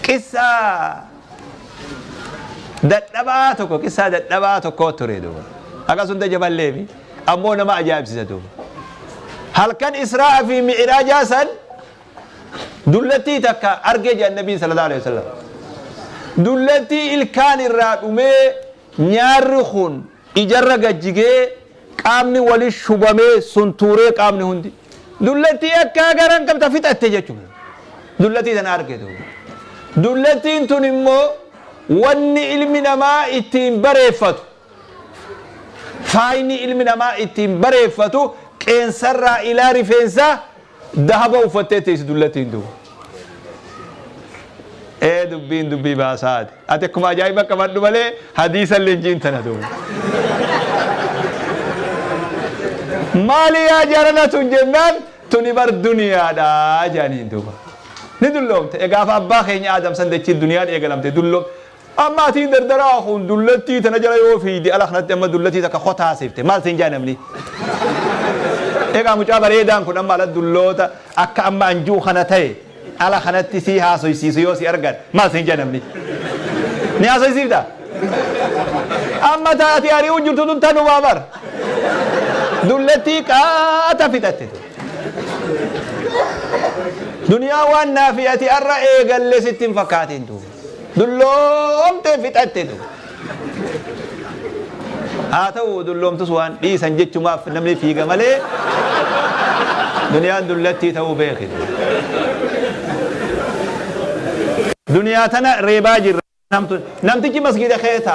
Qissaa dadhabaa tokko qissaa dadhabaa tokkoo ture duuba. Akkas hunda jaballee fi ammoo nama ajaa'ibsiisa duuba. Halkan Israa fi Mi'iraajaa san dullattii takka argee jedhan Nabiin sallallahu alaihi wasallam. Dullattii ilkaan irraa dhumee nyaarri kun ijarra gad jigee qaamni wali shubamee suntuuree qaamni hundi Dullattii akkaa garan qabta fixatte jechuun dullattii tana arge duuba. Dullattiin tun immoo wanni ilmi namaa ittiin bareeffatu faayni ilmi namaa ittiin bareeffatu qeensarraa ilaa rifeensaa Dahaba uffattee teessi dullatti hin du'u. Ee dubbiin dubbii baasaati. Ati akkuma ajaa'iba qabadhu malee hadiisa illee hin jiin tana duuba. Maali yaa jarana tun jennaan tuni bar duniyaadha jaaniin duuba. Ni dulloomte. Egaa abbaa keenya Aadam san dachii duniyaan eegalamte dulloomte. Amma atii dardaraa kun dullattii tana jala yoo fiiyde ala kanatti amma dullattii takka kota haasifte maal siin jaa namni. Egaa mucaa bareedaan kun amma ala dulloota akka amma an ji'u kana ta'e ala kanatti sii haasoysiisu yoo si argan maal siin jaa namni. Ni haasoysiifta? Amma taa ati ari'uu jirtu tun tanumaa bar. Dullattii qaata fixatte tun. Duniyaa waan naa fi ati arra eegalle sitti hin fakkaatiin tun. Dulloomtee fixatte tu. Haa ta'u dulloomtus waan dhiisan jechumaaf namni fiiga malee duniyaan dullattii ta'uu beeki. Duniyaa tana reebaa jirra. Namtichi masgiida keessa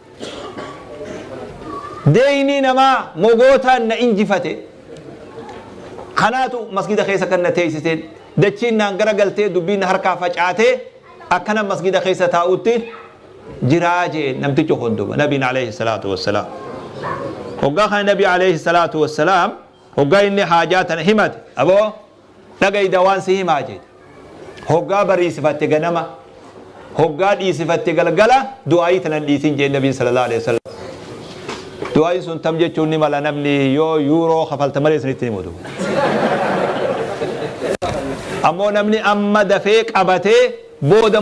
Deeynii namaa mogootaan na injifate. Kanaatu masgiida keessa kan na teeysiseen. Dachiin naan gara galtee dubbiin na harkaa facaatee akkanan masgiida keessa taa'utti jiraa je'een namtichi kun duuba nabiin aleeyhi salaatu wassalaam. Hoggaa kana nabi aleeyhi salaatu wassalaam hoggaa inni haajaa tana himate aboo Dhaga'i dawaan si himaa jeete. Hoggaa bariisifatte ganama, hoggaa dhiisifatte galgala du'aa'ii tana hin dhiisin je'e Nabiin sallallahu aleyh wasallam. Du'aa'iin sun tam jechuun ni mala namni yoo yuuroo kafalta malee isinitti hin himu duuba. Ammoo namni amma dafee qabatee booda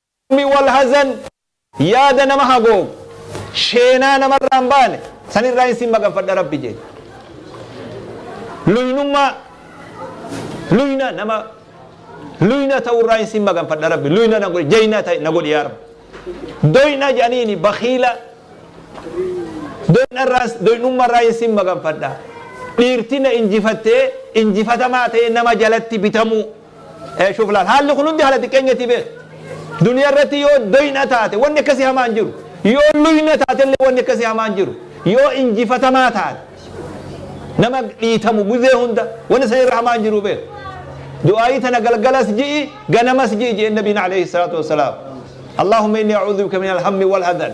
Hammi wal hazan yaada nama hagoogu, sheenaa namarraa hin baane, san irraahin sin maganfadha Rabbi je'e. Luynummaa, luyna nama luyna ta'u irraahin sin maganfadha Rabbi, luyna na godhi, jayna ta'i na godhi yaa Rabbi. Doyna je'aniini bakiila, doyna irraa, doynumma irraahin sin maganfadha. Dhiirti na injifattee, injifatamaa ta'ee nama jalatti bitamuu. Ee shuf laal haalli kun hundi haala xiqqeenyati beek duniya irratti yoo doyna taate wanni akkasi hamaa hin jiru yoo luyna taate illee wanni akkasi hamaa hin jiru yoo injifatamaa taate nama dhiitamu guzee hunda wanni san irra hamaa hin jiru beek du'aayii tana galgalas ji'i ganamas ji'i ji'een nabiin alayhi salaatu wassalaam Allahumma inni a'udhu bika min alhammi wal hadan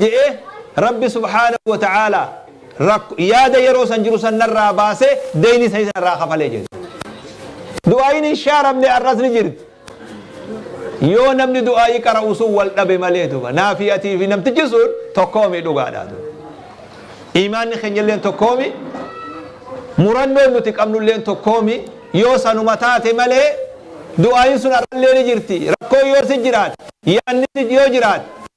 je'e, Rabbi subhaanahu wa ta'aalaa rakk yaada yeroo san jiru san narraa baasee deeyni sanii san irraa kafale je'e. Du'aayiin hin shaaramne ar'as ni jirti. Yoo namni du'aayii qara'u sun wal dhabe malee duba naafi'atii fi namtichi sun tokkoomi dhugaadhaa duba. Iimaanni keenyalleen tokkoomi murannoon nuti qabnulleen tokkoomi yoo sanuma taate malee du'aayiin sun ar'allee ni jirti. Rakkoo yoo si jiraate yaanni si yoo jiraate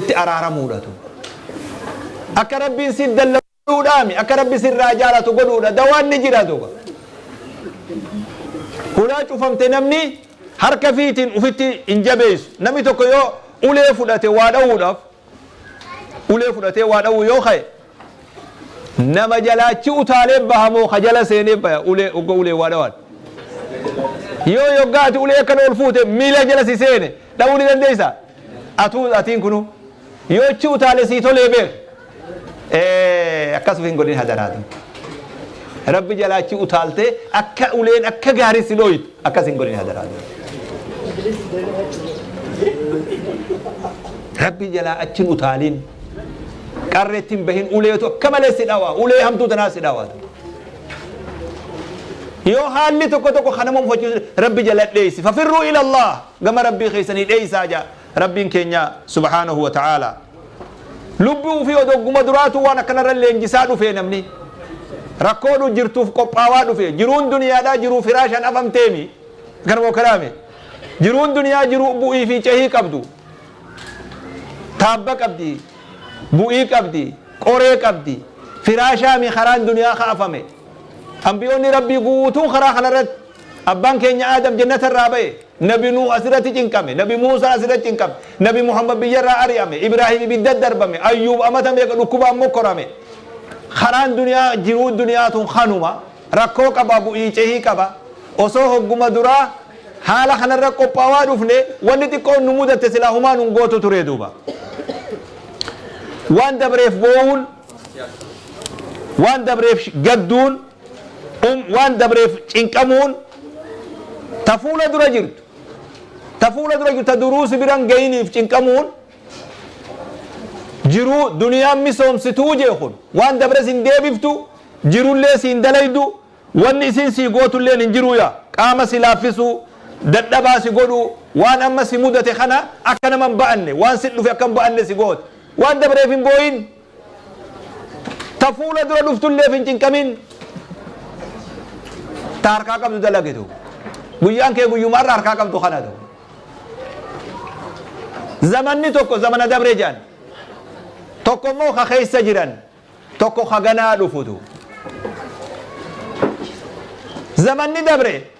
itti araaramuudha tun. Akka Rabbiin siif dallagu godhuudhaami. Akka Rabbi sirraa jaalatu godhuudha. Dawaan ni jira duuba. Hulaa cufamte namni harka fiitiin ufitti hin jabeessu. Namni tokko yoo ulee fudhate waa dhawuudhaaf ulee fudhatee waa dhawuu yoo ka'e Nama jalaa achi utaalee baha moo ka jala seenee baya ulee ogga ulee waa dhawaan? Yoo yoggaa ati ulee akkana ol fuute miila jala si seene dhawuu ni dandeessaa? Atuu atiin kunuu yoo achi utaale sii tolee beek. Ee akkas uf hin godhin hadaraa dun. Rabbi jalaa achi utaaltee akka uleen akka gaarii si dhooytu. Akkas hin godhin hadaraa. Rabbii jalaa achi hin utaaliin. Qarreetti hin bahin uleetu akka malee si dhawaa. Ulee hamtuu tanaa si dhawaa. Yoo haalli tokko tokko kanama mufachiisu rabbi jala dheessi. Fafirruu ilallah gama rabbii keessanii dheessaa jaa. Rabbiin keenya subhaanahu wa ta'aalaa lubbuu ufii odogguma duraatuu waan akkanarra leenjisaa dhufee namni rakkoo dhu jirtuuf qophaawaa dhufee jiruun duniyaadhaa jiruu firaashaan afamteemi akkanuma okaraame jiruun duniyaa jiruu bu'ii fi cehii qabdu taabba qabdi bu'ii qabdi qoree qabdi firaashaami karaan duniyaa ka afame ambiyoonni rabbii guutuun karaa kanarratti Abbaan keenya Aadam Jannata irraa ba'e. Nabi Nuuh as irratti cinqame. Nabi Muusaa as irratti cinqame. Nabi Muhammad biyya irraa ari'ame. Ibraahim ibidda darbame. Ayyuub amata meeqa dhukkubaan mokkorame. Karaan duniyaa jiruu duniyaa tun kanuma. Rakkoo qaba bu'ii cehii qaba. Osoo hogguma duraa haala kanarra qophaawaa dhufne wanni xiqqoon nu mudatte silaa humaa nun gootu turee duuba. Waan dabreef boo'uun waan dabreef gadduun um waan dabreef cinqamuun ta fuula dura jirtu ta fuula dura jirtu ta duruu si biran gayiniif cinqamuun jiruu duniyaan misoomsituu jee kun waan dabre sin deebiftu jirullee siin dalaydu wanni isin sii gootulleen hin jiruu yaa qaama si laaffisuu dadhabaa si godhuu waan amma si mudate kana akka nama hin ba'anne waan sit dhufe akka hin ba'anne si gooti waan dabreef hin booyin Ta fuula dura dhuftulleef hin cinqamin. Ta harkaa qabdu dalagitu. Guyyaan kee guyyuma har'a harkaa qabdu kana ta'u. Zamanni tokko zamana dabre jedhan. Tokko immoo ka keessa jiran. Tokko ka ganaa dhufutu. Zamanni dabre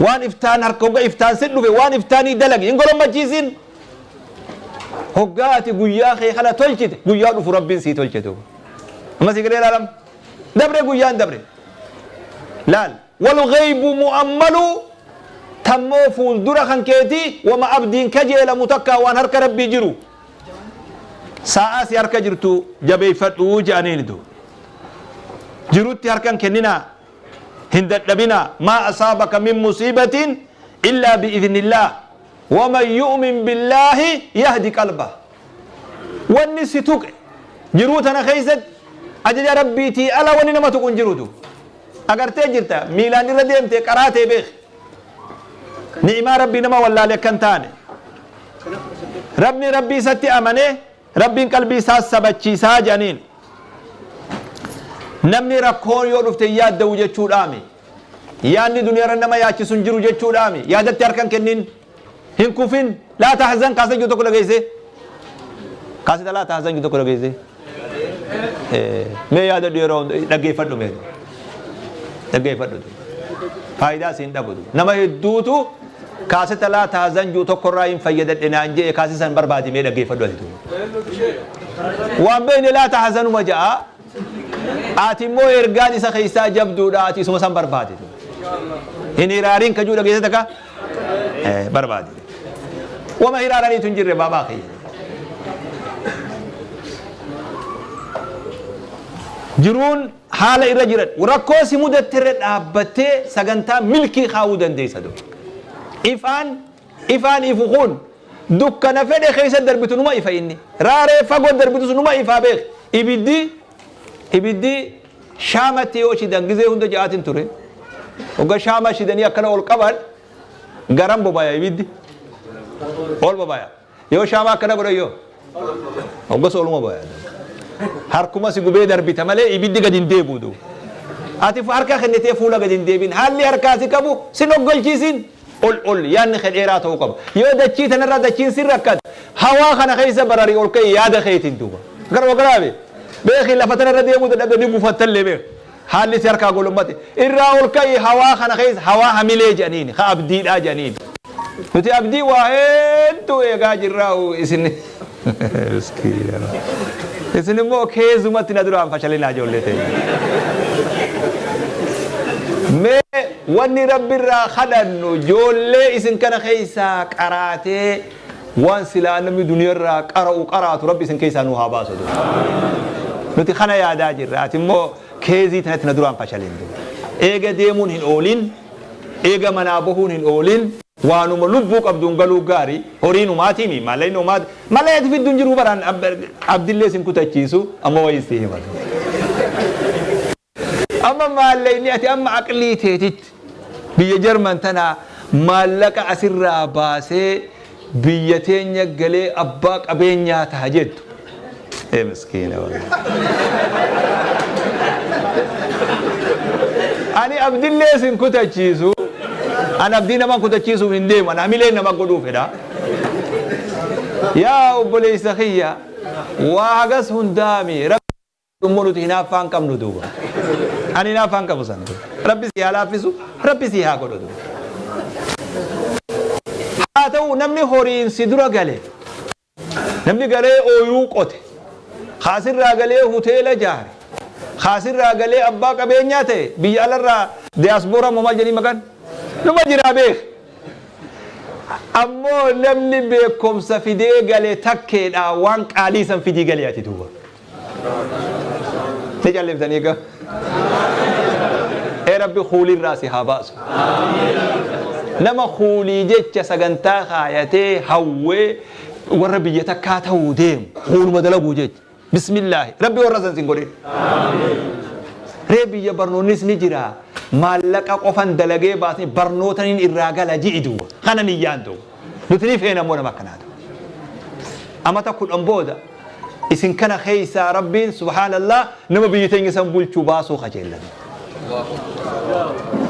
Waan iftaan harka hogga iftaan si dhufe waan iftaanii dalagi hin golommachiisin. Hoggaa ati guyyaa kee kana tolchite guyyaa dhufu rabbiin sii tolcha duuba. Amma sii galee laalam. Dabre guyyaan dabre. Laal wal ghaybu mu'ammalu tammoo fuuldura kan keetii wama abdiin kajeelamu takkaa waan harka rabbii jiru. Saa'aa si harka jirtu jabeeffadhu jedhaniin duuba. Jirutti harkan kenninaa hin dadhabinaa maa asaabaka min musiibatin illaa bi'idhnillaah waman yu'min billaahi yahdi qalbah wanni si tuqe jiruu tana keessatti ajaja rabbiitii ala wanni nama tuqu hin jirutu agartee jirta miilaan irra deemte qaraa tee beeki ni'imaa rabbii nama wallaale akka hin taane rabni rabbii isatti amanee Rabbiin qalbii isaa sabachiisaa jedhaniin. Namni rakkoon yoo dhufte hin yaadda'u jechuudhaami. Yaadni duniyaarra nama yaachisu hin jiru jechuudhaami. Yaadatti harka hin kennin. Hin kufin. Laa tahzan kaasa jiru tokko dhageesse. Kaasita laa tahzan jiru tokko dhageesse. Mee yaadadhu yeroo hunda dhaggeeffadhu mee. Dhaggeeffadhu. Faayidaa siin dhabutu. Nama hedduutu Kaaseta laataa zanjuu tokko irraa hin fayyadadhe naan je'e kaaseta san barbaadi mee dhaggeeffadhu ati tun. Waan beeyne laata hasanuma ja'a. Ati immoo ergaan isa keessaa jabduudha ati isuma san barbaadi. Hin hiraariin kajuu dhageessata ka? Barbaadi. Wama hiraaraniitu hin jirre baabaa kiyya. Jiruun Haala irra jiran. Rakkoo si mudatte irra dhaabbattee sagantaa milkii kaa'uu dandeessa. Ifaan ifaan ifu kun dukkana fedhe keessa darbitu numa ifa inni. Raaree fagoo darbitus numa ifaa beeki. Ibiddi ibiddi shaamatti yoo shidan gizee hunda ja'aatiin ture. Hogga shaamaa shidanii akkana ol qaban garan bobaya ibiddi. Ol bobaya. Yoo shaamaa akkana godhan yoo. Hoggas ooluma booya. Harkuma si gubee darbita malee ibiddi gadi hin deebi'u du. Ati harka kennitee fuula gadi hin deebiin. Haalli harkaa si qabu sin oggalchiisin. Ol ol yaadni kee dheeraa ta'uu qaba. Yoo dachii tanarraa dachiin sin rakkate hawaa kana keessa barari ol ka'i yaada keetiin duuba. Garuu garaabe beeki lafa tanarra deemuu dadhabde ni gufattallee beeki. Haalli si harkaa golombate. Irraa ol ka'ii hawaa kana keessa hawaa hamilee jedhaniini, ka abdiidhaa jedhaniini. Nuti abdii waa hedduu eegaa jirraa'u isin miskiina. Isin immoo keezumatti na duraan fashalinaa ijoollee teenya. Mee wanni Rabbi irraa kadhannu ijoollee isin kana keessaa qaraatee Waan silaa namni duniyarraa qara'u qaraatu rabbi isin keessaa nuu haa baasu duuba. Nuti kana yaadaa jirra ati immoo keezii tanatti na duraan fashalin duuba. Eega deemuun hin oolin, eega manaa bahuun hin oolin, waanuma lubbuu qabduun galuu gaari, horiin homaatiimi, maallaqni homaati, mallaqa itti fiddu hin jiru baraan abdillee sin kutachiisu amma wayiin si hima duuba. Amma maallaqni ati amma aqlii teetitti biyya Jarman tana maallaqa asirraa baasee biyya teenya galee abbaa qabeenyaa taha jettu. Ee miskiina wallaahi. Ani abdillee sin kutachiisu. An abdii nama kutachiisuuf hin deemu. An hamilee nama godhuu fedha. Yaa obboleessa kiyya waa hagas hundaami. dhummu nuti hinaaffaa hin qabnu duuba ani hinaaffaa hin qabu san rabbi si haa laaffisu rabbi si haa godhu duuba haa ta'u namni horiin si dura gale namni galee ooyiruu qote kaasirraa galee hoteela jaare kaasirraa galee abbaa qabeenyaa ta'e biyya alarraa diyaasbooraa moo maal jedhanii maqaan numa jiraa beek ammoo namni beekumsa fidee gale takkeedha waan qaalii san fidii galee ati duuba Ni callimtanii gaa. Ee rabbi kuulirraa si haa baasu. Nama kuulii jecha sagantaa kaayatee hawwee warra biyya takkaa ta'uu deemu kuuluma dalaguu jecha. Bismillaahi rabbi warra san sin godhin. Ree biyya barnoonnis ni jira. Maallaqa qofan dalagee baasni barnootaniin irraa gala ji'i duwwa. Kana niyyaan ta'u. Nuti ni feena immoo nama akkanaa ta'u. Amata kudhan booda Isin kana keessaa Rabbiin subhaanallaah nama biyyi teenya san bulchu baasuu kajeellame.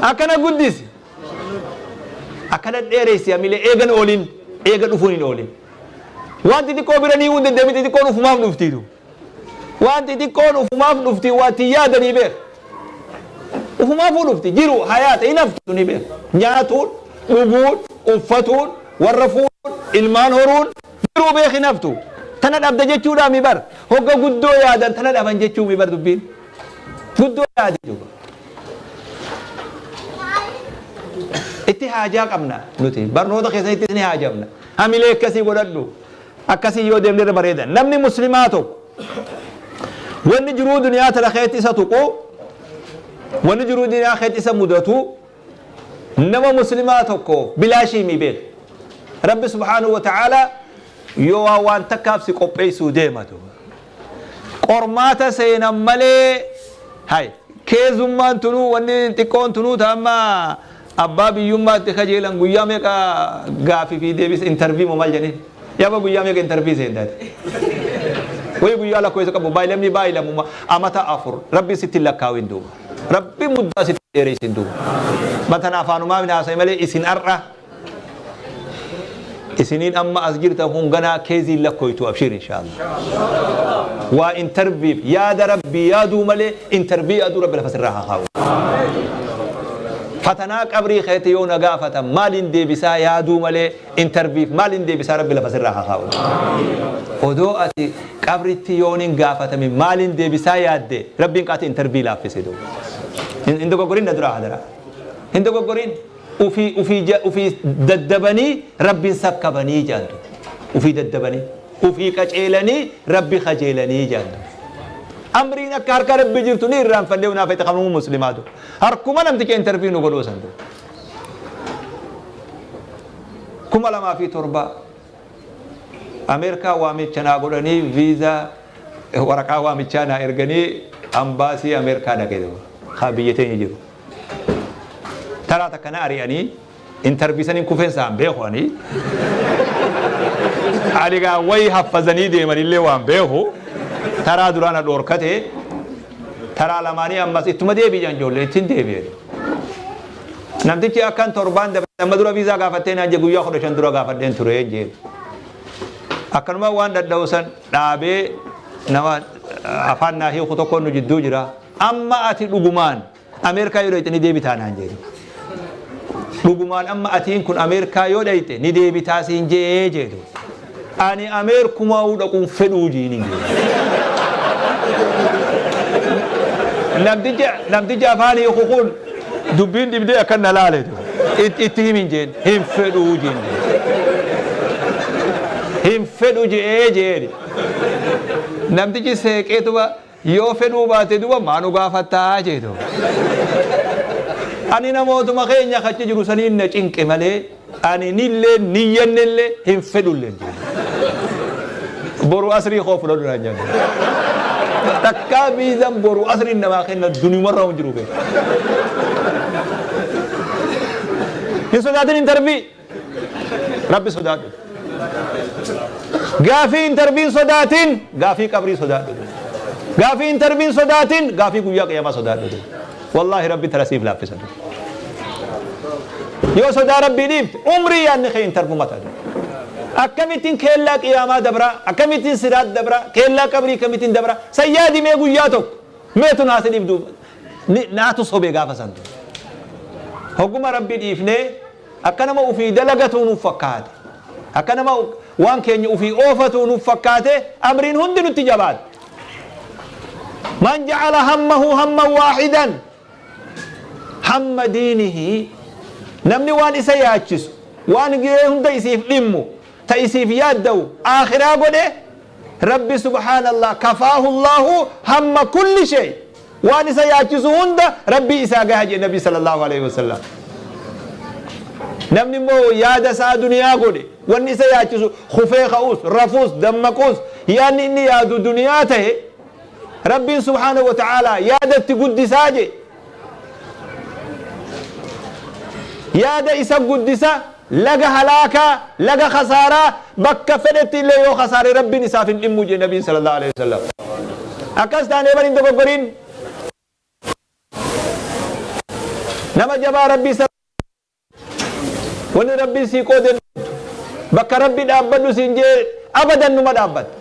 Akkana guddisi. Akkana dheeressi hamilee eegan oolin eega dhufuun hin oolin. Waan xixiqqoo bira ni hunde deemi xixiqqoon ufumaaf dhuftiitu. Waan xixiqqoon ufumaaf dhufti waa itti yaadanii beeka. Ufumaafuu dhufti jiru hayaata hin haftu ni beeka. Nyaatuun, dhuguun, uffatuun, warra fuudhuun, ilmaan horuun, Garuu beeki naftu tana dhabda jechuudhaami bar hogga guddoo yaadan tana dhaban jechuumi bar dubbiin guddoo yaadi jechuudha. Itti haajaa qabna nuti barnoota keessanitti isin haajamna hamilee akkasii godhadhu akkasii yoo deemne irra bareeda namni muslimaa tokko wanni jiruu duniyaa tana keessatti isa tuqu wanni jiruu duniyaa keessatti isa mudatu Nama muslimaa tokko bilaashii mii beeka. Rabbi subhaanahu wa ta'aalaa yoo waa waan takkaaf si qopheessuu deema tu qormaata seenan malee hay keezummaan tunuu wanni xiqqoon tunuu ta amma abbaa biyyummaatti kajeelan guyyaa meeqa gaafii fi deebisa interview moo maal jedhanii Yaba guyyaa meeqa intervii seenta ati? Wayii guyyaa lakkoofsa qabu baay lammii baay lammummaa amata afur rabbi sitti hin lakkaawin duuba. Rabbi muddaa sitti hin dheeressin duuba. Matan afaanumaa hin haasa'e malee isin har'a isiniin amma as jirtan kun ganaa keeziin lakkooytu abshiir inshaallah. Waa interviif yaada rabbii yaaduu malee intervii yaaduu rabbi lafa sirraa haa kaa'u. Fatanaa qabrii keetti yoo na gaafatan maaliin deebisaa yaaduu malee Interviif maalin deebisaa rabbi lafa sirraa haa kaa'u. Odoo ati qabritti yoon hin gaafatame maalin deebisaa yaadde rabbiin qaati intervii laaffise doo. Hin dogoggorin na duraa hadaraa. Hin dogoggorin ufii ufii ja ufii daddabanii rabbin sakkabanii jaan doo. Ufii daddabanii ufii qaceelanii rabbi kajeelanii jaan doo. Amriin akka harka rabbi jirtu ni irraanfadhe unaafete kanuu muslimaa doo. Harkuma namticha intervii nu godhuu san doo. kuma lamaa fi torba Ameerikaa waamicha naa godhanii viizaa waraqaa waamichaa naa erganii ambaasii Ameerikaa dhaqe haa biyya teenya jiru. Taraa takka na ari'anii intarvii saniin kufeen saan beeku ani. Aligaa wayi haffazanii deemanillee waan beeku taraa duraa na dhoorkate Taraa lamaanii ammas ittuma deebi'i jedhan ijoolleen ittin deebi'e. Namtichi akkan torbaan dabarse amma dura viizaa gaafattee naan jedhe guyyaa kudha shan dura gaafadheen ture jedhe. Akkanuma waan dhadha'u san dhaabee nama afaan naa hiiku tokkoon nu jidduu jira. Amma ati dhugumaan Ameerikaa yoo dhayxe ni deebitaa naan jee duuba. Dhugumaan amma atiin kun Ameerikaa yoo dhayxe ni deebitaa siin je'ee jee duuba. Ani Ameerkumaa'uu dhaquun fedhuu jiiniin jee. Namticha namticha afaan hiiku kun dubbiin dhibdee akkan na laale duuba. It- Itti himiin jeen hin fedhuu jiin jee. Hin fedhu je'ee jeeni. Namtichi seeqeetuma Yoo fedhuu baate duba maa nu gaafatta jeeto. Ani namootuma keenya ka achi jiru saniin na cinqe malee ani nilleen niyyannellee hin fedhulleen jeeto. Boru asrii koo fudhadhu naan jenne. Takkaa viizan boru asriin namaa kenna duniumarra hin jiru beeka. Hin sodaatin intervii Rabbi sodaadhu. Gaafii intarviin sodaatiin gaafii qabrii sodaadhu. Gaafii intarviin sodaatiin gaafii guyyaa qiyaamaa sodaadhu. Wallaahi rabbi tara siif laaffisa. Yoo sodaa rabbii dhiifte umrii yaadni kee intarvuma ta'a. Akkamittiin keellaa qiyaamaa dabraa akkamittiin siraat dabraa keellaa qabrii akkamittiin dabraa san yaadimee guyyaa tokko meetu naa si dhibdu naatu sobee gaafa santu. Hogguma rabbi dhiifnee Akka nama ufii dalagatuu nuuf fakkaate. Akka nama waan keenya ufii oofatuu nuuf fakkaatee amriin hundi nutti jabaatte. Man ja'ala hammahu hamman waahidan hamma diinihi namni waan isa yaachisu waan gahee hunda isiif dhimmu ta isiif yaaddawu aakhiraa godhe rabbi subhaanallah kafaahu llaahu hamma kulli shay Waan isa yaachisu hunda Rabbii isaa gaha jedhe Nabiin Sallallaahu aleyhi wa sallam. Namni immoo yaada isaa duniyaa godhe, wanni isa yaachisu kufee ka'uus, rafuus, dammaquus, yaadni inni yaadu duniyaa tahe, Rabbiin subhaanahu wa ta'aalaa yaada itti guddisaa jedhe. Yaada isa guddisa, Laga halaakaa, laga khasaaraa, bakka fedhetti illee yoo khasaare Rabbiin isaaf hin dhimmu jedhe Nabiin Sallallaahu aleyhi wasallam. Akkas taanee bar hin dogoggorin. Nama jabaa Rabbii sal Wanni Rabbiin sii qoode hin dhabdu. Bakka Rabbi dhaabbadhu siin jee abadan numa dhaabbatta.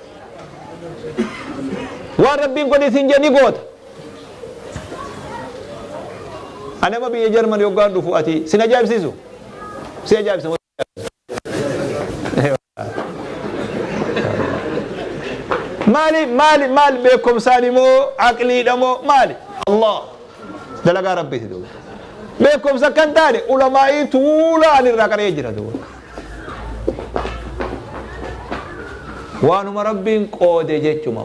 Waan Rabbiin godhi siin jee ni goota. Ani amma biyya Jarmani yoggaan dhufu ati sin ajaa'ibsiisu? Si ajaa'ibsa moo Maali maali maal beekumsaani moo aqliidha moo maali? Allah dalagaa rabbiiti duuba. Beekumsa akka hin taane ulamaa'ii tuula ani irraa qaree jira duuba. Waanuma rabbiin qoode jechuma.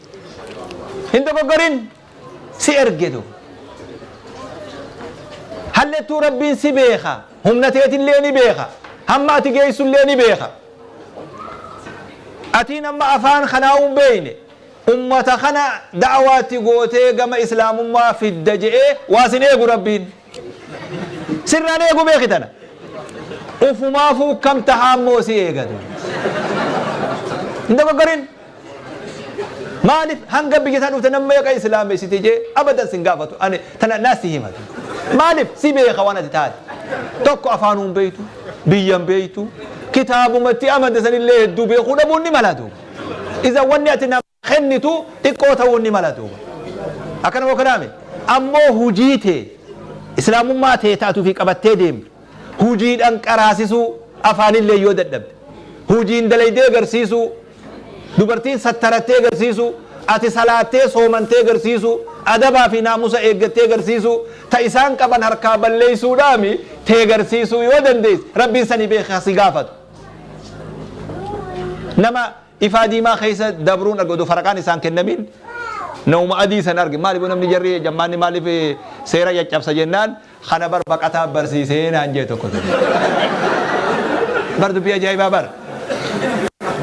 Hin dogoggorin si ergetu. Hallettuu Rabbiin si beeka. Humna teetillee ni beeka. Hamma ati geessullee ni beeka. Atiin amma afaan kanaa'uu hin beekne. Ummata kana da'awaa itti gootee gama Islaamummaa fidda je'ee waa sin eegu Rabbiin. Sirraan eeguu beeki tana. Ufumaafuu akkam tahaa immoo si eegatu. Hin dogoggorin. Maaliif hanga biyya isaa dhufte namni meeqa islaamessite jee abadan sin gaafatu ani tana naa si himatu. Maaliif si beeka waan ati taate. Tokko afaanuun beektu, biyyan beektu, kitaabumatti amanta sanillee hedduu beekuu dhabuun ni malatu. Isa wanni ati nama kennitu xiqqoo ta'uun ni mala duuba. Akkana moo kanaa miti? Ammoo hujii tee, Islaamummaa tee ta ati ufii qabattee deemtu, hujiidhaan qaraasisuu, afaanilleen yoo dadhabde, hujiin dalaydee garsiisuu, dubartiin sattarattee garsiisuu, ati salaattee, soomantee garsiisuu, adabaa fi naamusa eeggattee garsiisuu, ta isaan qaban harkaa balleeysuudhaami tee garsiisuu yoo dandeeyse, Rabbiin sani beekhe ha si gaafatu. Nama. Ifaa diimaa keessa dabruun arge odoo faraqaan isaa hin kennamiin nauma adii san arge maaliif namni jarri jammaanni maaliif seera caccabsa jennaan kana bar baqataa barsiisee naan jee tokko ture. Bar dubbii ajaa'ibaa bar.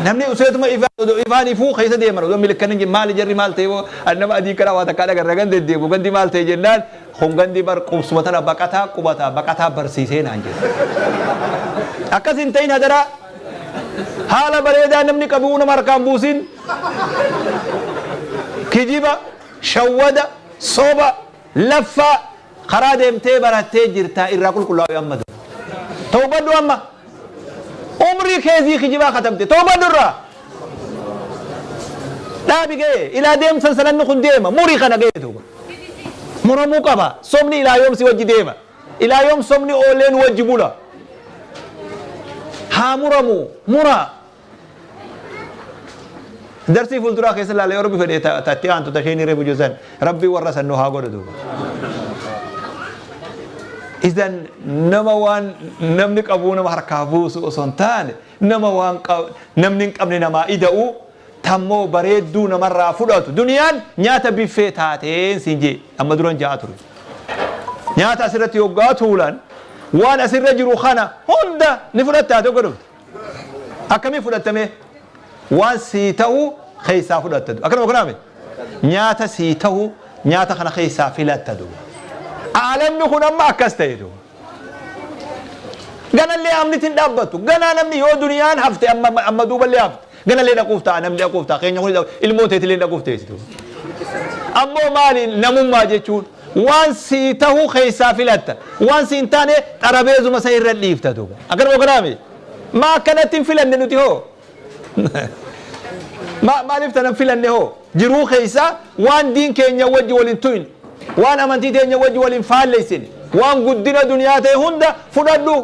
Namni useetuma ifaa odoo ifaan ifuu keessa deeman odoo milikkan hin maali jarri maal ta'e boo ani nama adii kanaa waa takkaa dhagarra gandi deddeebu gandi maal ta'e jennaan kun gandi bar qubsuma tana baqataa qubataa baqataa barsiisee naan jee. Akkas hin ta'in hadaraa. Haala bareedaa namni qabu'uu nama harkaa hin buusin. Kijiba, shawwada, soba, laffaa karaa deemtee barattee jirta irraa qulqullaa'i amma dura. Tawbadhu amma. Umrii keezii kijibaa katabde tawbadhu irraa. Dhaabi ga'ee ilaa deemsan sananni kun deema murii kana ga'ee duuba. Muramuu qaba sobni ilaa yoom si wajji deema. Ilaa yoom sobni oolee nu wajji bula? Haa muramu! Muraa! Darsii fuulduraa keessa ilaala yoo rabbi fedhe ta ta itti aantu ta isheen reefu jiru san rabbi warra san nu haa godhu duuba. Isan nama waan namni qabuu nama harkaa buusu osoo hin taane nama waan qa- namni hin qabne namaa ida'uu Tammoo bareedduu namarraa fudhatu duniyaan nyaata biffee taateen siin jee amma duran ja'aa ture. Nyaata asirratti hoggaa tuulan waan asirra jiru kana hunda ni fudhattaa tokko dhufte. Akkamii fudhattamee waan sii ta'u keessaa fudhatta du. Akkanuma kunaame nyaata sii ta'u nyaata kana keessaa filatta du. Aalamni kun amma akkas ta'e du. Ganallee haamniti hin dhaabbattu. Ganaa namni yoo duniyaan hafte amma amma duuballee hafte. Ganallee dhaquuf ta'a namni dhaquuf ta'a keenya kun ilmoo teetillee hin dhaquuf teessi. Ammoo maali namummaa jechuun waan sii tahuu keessaa filatta. Waan sii hin taane xarabeezuma san irra dhiifta duuba. Akkanuma kanaami. Maa akkanatti hin filanne nuti hoo? Ma- maaliif tanan filanne hoo jiruu keessa waan diin keenya wajji wal hin tuyne waan amantii teenya wajji wal hin faalleessine waan guddina duniyaa ta'e hunda fudhadhu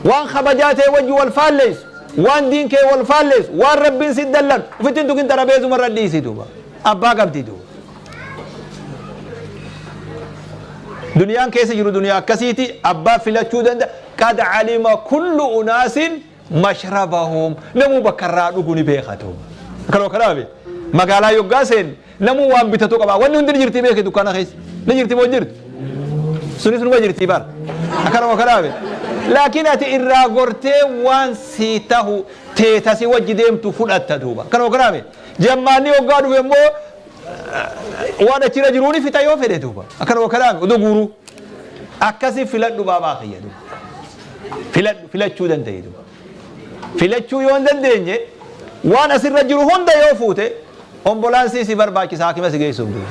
waan kabajaa ta'e wajji wal faalleessu waan diin kee wal faalleessu waan rabbiin si dallan ufittiin tukin xarabeesuma irra dhiisi duuba abbaa qabdi duuba duniyaan keessa jiru duniyaa akkasiiti abbaa filachuu danda'a qad alima kullu unaasin mashrabahum namuu bakka irraa dhugu ni beekatu kanoo kanaa be magaalaa yoggaa seen namuu waan bitatu qaba wanni hundi ni jirti beeke dukkaana keessa ni jirti moo jirti sunis numa jirti bar akkanuma kanaa be laakiin ati irraa gortee waan si tahu teetasi wajji deemtu fudhatta duuba kanoo kanaa be jammaanni yoggaa dhufe immoo waan achirra jiruu ni fita yoo fedhe duuba akkanuma kanaa be odoo guuruu Akkasi filadhu baabaa kiyya duba. Filadhu filachuu danda'i duba. Filachuu yoo hin dandeenye waan asirra jiru hunda yoo fuute ombolaansii si barbaachisa haakima si geessuuf duba.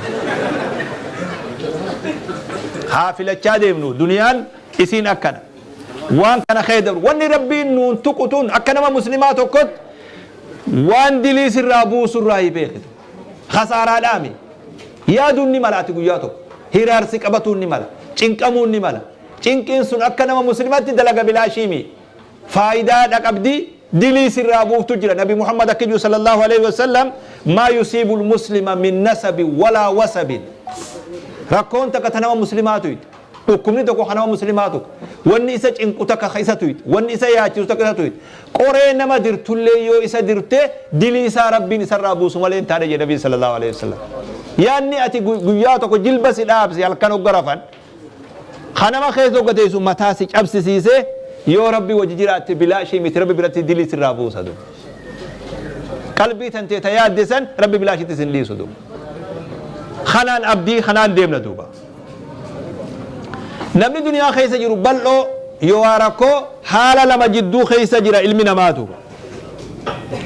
Haa filachaa deemnu duniyaan isiin akkana. Waan kana kee dabru wanni rabbiin nuun tuqu tun akka nama muslimaa tokkotti waan dilii sirraa buusurraa hin beekitu. Kasaaraadhaami. Yaaduun ni mala ati guyyaa tokko. Hiraar si qabatuun ni mala. Cinqamuun ni mala. Cinqiin sun akka nama muslimaatti dalaga bilaashii mii. Faayidaa dha qabdi, dilii sirraa buuftu jira. Nabi Muhammad akki jiru sallallahu aleyhi wa sallam, Maa yusiibul muslima min nasabin walaa wasabin. Rakkoon takka ta nama muslimaa tuyxu. Dhukkubni tokko ka nama muslimaa tuqa. Wanni isa cinqu takka ka isa tuyxu. Wanni isa yaachisu takka isa tuyxu. Qoree nama dirtullee yoo isa dirte dilii isaa Rabbiin isarraa buusu malee hin taane jedhe Nabiin sallallaahu aleyhi wasallam. Yaanni ati guyyaa tokko jilba si dhaabse halkan hogga rafan ka nama keessa hogga teessu mataa si cabsisiise yoo Rabbi wajji jiraatte bilaashii miti Rabbi biratti dilii sirraa buusa du. Qalbii tantee ta yaadde san Rabbi bilaashitti sin dhiisu du. Kanaan abdii kanaan deemna duuba. Namni duniyaa keessa jiru bal'oo yookaa rakkoo haala lama jidduu keessa jira ilmi namaa tuuba.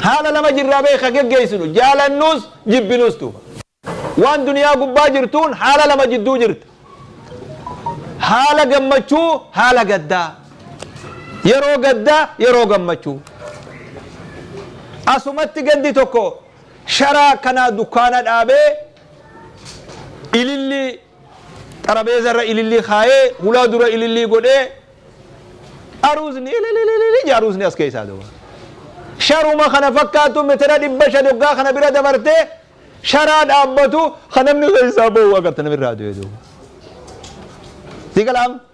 Haala lama jirraa bee ka geggeessinu jaalannuus jibbinuus tuuba. Waan duniyaa gubbaa jirtuun haala lama jidduu jirta. Haala gammachuu haala gaddaa. Yeroo gaddaa yeroo gammachuu. Asumatti gaddi tokko sharaa akkanaa dukkaana dhaabee ilillii xarabeeza irra ilillii kaayee hulaa dura ilillii godhee aruuzni ililililili jaa aruuzni as keessaa duba sharuma kana fakkaatu metera dhibba shan hoggaa kana bira dabarte sharaa dhaabbatu kan namni keessaa bahu agarta namirraa du'e duuba si galaam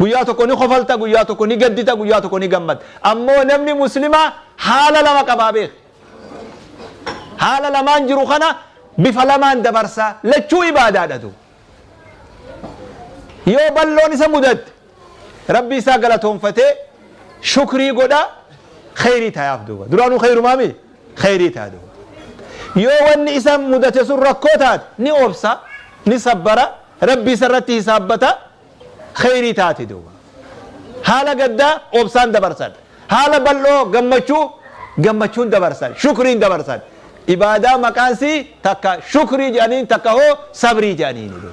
Guyyaa tokko ni kofalta, guyyaa tokko ni gaddita, guyyaa tokko ni gammadda. Ammoo namni Muslimaa haala lama qabaa beeki. Haala lamaan jiru kana bifa lamaan dabarsa. Lachuu ibaadaadha du. Yoo balloon isa mudatte Rabbii isaa galatoonfatee shukrii godha kheyrii tayaaf duuba. Duraanuu kheyrumaa mi? Kheyrii tayaa duuba. Yoo wanni isa mudate sun rakkoo taate ni obsa, ni sabbara. Rabbi isarratti hisaabbata, kheyrii taati duuba. Haala gaddaa obsaan dabarsan. Haala bal'oo gammachuu gammachuun dabarsan, shukriin dabarsan. Ibaadaa maqaansii takka shukrii jedhaniin takka hoo sabrii jedhaniini duuba.